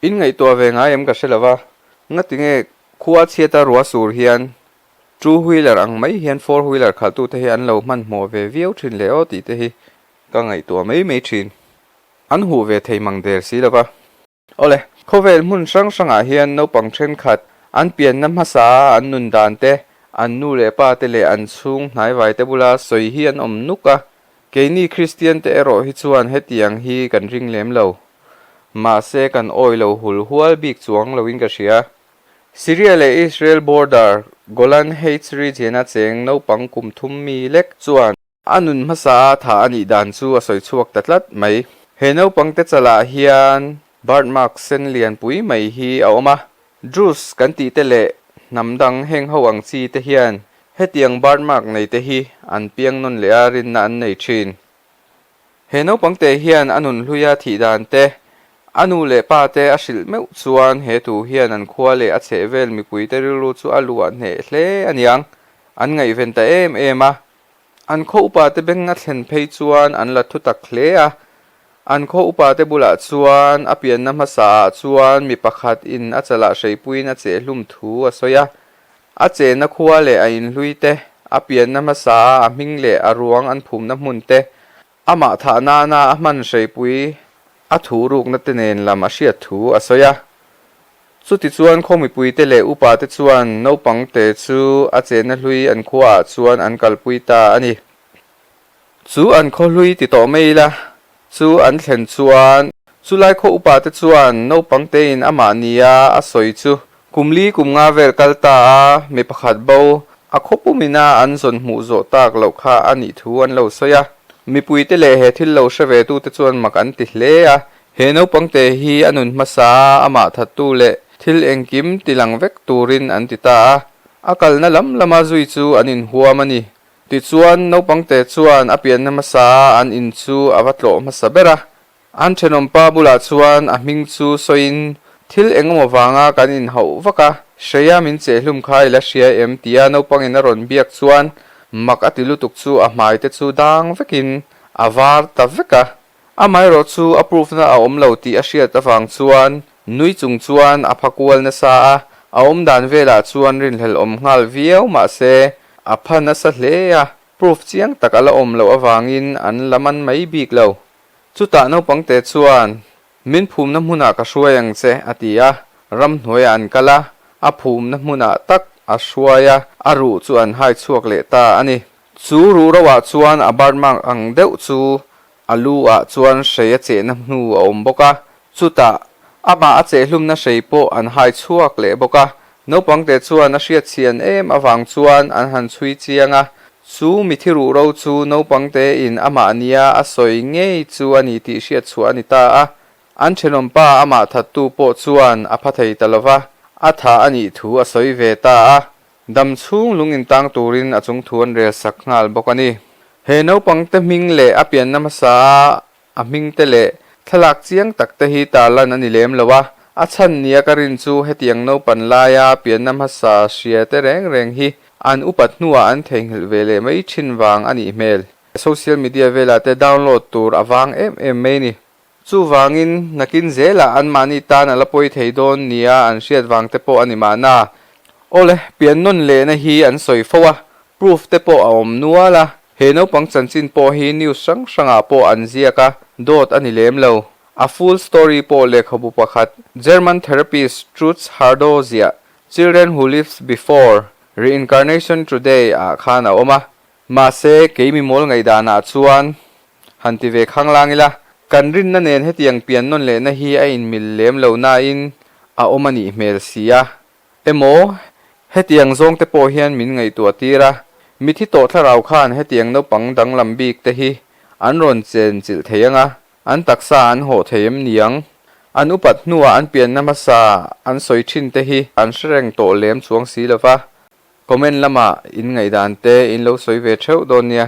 In ngaihtuah ve ngai em ka hre lo va, ngatinge khua chhiata rua sur hian two wheeler ang mai hian four wheeler khalhtu te hi an lo hmanhmawh ve viau thin leh aw tih te hi ka ngaihtuah mai mai thin. An huh ve thei mang der si lo va. Awle, khawvel hmun hrang hrangah hian naupang thenkhat an pianna hmasa a an nun dan te, an nu leh pa te leh an chhung hnaivai te bula sawi hi an awm nuk a. Keini Kristian te erawh hi chuan hetiang hi kan ring lem lo. Mahse, kan awi lo hul hual bik chuang loin ka hria. Syria leh Israel border Golan Heights region-a cheng naupang kum thum mi lek chuan, A nun hmasa a tha a nih dan chu a sawi chhuak ta tlat mai. He naupangte chalah hian bird mark sen lian pui mai hi a awm a. Druze kan tih te leh hnam dang heng ho ang chi te hian hetiang bird mark nei te hi an piang nawn leh a rinna an nei thin. He naupangte hian a nun hlui a thih dan te, a nu leh pa te a hrilh meuh chuan he tu hian an khua leh a chhehvel mipuite rilru chu a luah hneh hle a niang. An ngaihven ta em em a. An khaw upa te beng a thlen phei chuan an la thutak hle a. An khaw upa te bulah chuan a pianna hmasa ah chuan mi pakhat in a chalah hreipuiin a chehhlum thu a sawi a. A chehna khua leh a inhlui te, a pianna hmasa a a hming leh a ruang an phumna hmun te, Amah thah nana a hmanhreihpui a thu ruknate nen lam a hriat thu a sawi a. Chutichuan khaw mipuite leh upate chuan naupangte chu a chenna hlui an khuaah chuan an kalpui ta a ni. Chu an khaw hlui ti tawh mai ila chu an thlen chuan chulai khaw upate chuan naupangtein amah nia a sawi chu Kum li kum nga vel kal ta a, mi pakhat bo a khaw pum ina an zawn hmuh zawh tak loh kha a nih thu an lo sawi a. Mipui te leh he thil lo hre ve tu te chuan mak an ti hle a. He naupang te hi a nun hmasa a a mah that tu leh thil engkim ti lang vek turin an ti ta a, a kalna lam lama zui chu an in huam a ni. Tichuan, naupang te chuan a pianna hmasa a an in chu a va tlawh hmasa ber a, An thenawmpa bulah chuan a hming chu sawiin, Thil engemaw vanga kan inhauh vak a, hreia min chehhlum kha i la hria em? tia naupangin a rawn biak chuan mak a ti lutuk chu a hmaite chu dang vekin a var ta vek a. Amaherawh chu a proof na a awm lo tih a hriat avang chuan nui chung chuan a pha kual nasa a, a awmdan velah chuan rinhlel awm nghal viau mahse a pha nasa hle a, proof chiang tak a la awm loh avangin an la man mai bik lo. Chutah naupangte chuan, Min phumna hmunah ka hruai ang che, a ti a, ramhnuaia an kal a, a phumna hmunah tak a hruai a, a ruh chu an hai chhuak leh ta a ni. Chu ruhrauhah chuan a bar mak ang deuh chu a lu ah chuan hrei a chehna hnu a awm bawk a, Chutah, amah a chehhlumna hrei pawh an hai chhuak leh bawk a. Naupangte chuan a hriatchian em avang chuan an han chhui chiang a. Chu mithi ruhro chu naupangte in amah nia a sawi ngei chu a ni tih hriat chhuah a ni ta a. An thenawm pa amah thattu pawh chuan a pha thei ta lo va, a tha a nih thu a sawi ve ta a. Dam chhung lung intang turin a chungthu an rel sak nghal bawk a ni. He naupangte hming leh a pianna hmasa A hming te leh thlalak chiang tak te hi tarlan a ni lem lo a, a chhan nia ka rin chu hetiang naupan laia pianna hmasa hria te reng reng hi an upat hnuah an theihnghilh ve leh mai thin vang a nih hmel. Social media velah te download tur a vang em em mai a ni. Chuvangin, nakin zela anmahni tan a la pawi thei dawn nia an hriat vang te pawh a ni mahna, aw le, pian nawn lehna hi an sawi fo a, Proof te pawh a awm nual a, he naupang chanchin pawh hi news hrang hrangah pawh an ziak a, dawt a ni lem lo. A full story pawh lehkhabu pakhat, German therapist Trutz Hardau ziah Children Who Lived Before, Reincarnation Today ah khan a awm a. Mahse, kei mimawl ngaihdanah chuan han ti ve khanglang ila, kan rinna nen hetiang pian nawn lehna hi a inmil lem lo nain a awm a nih hmel si a, Emaw, hetiang zawngte pawh hian min ngaihtuah tir a, mithi tawh thlarau khan hetiang naupang danglam bikte hi an rawn chen chilh thei anga, an taksa an hawh thei em niang? An upat hnuah an pianna hmasa an sawi thinte hi an hre reng tawh lem chuang si lova, comment lamah in ngaihdan te in lo sawi ve theuh dawn nia.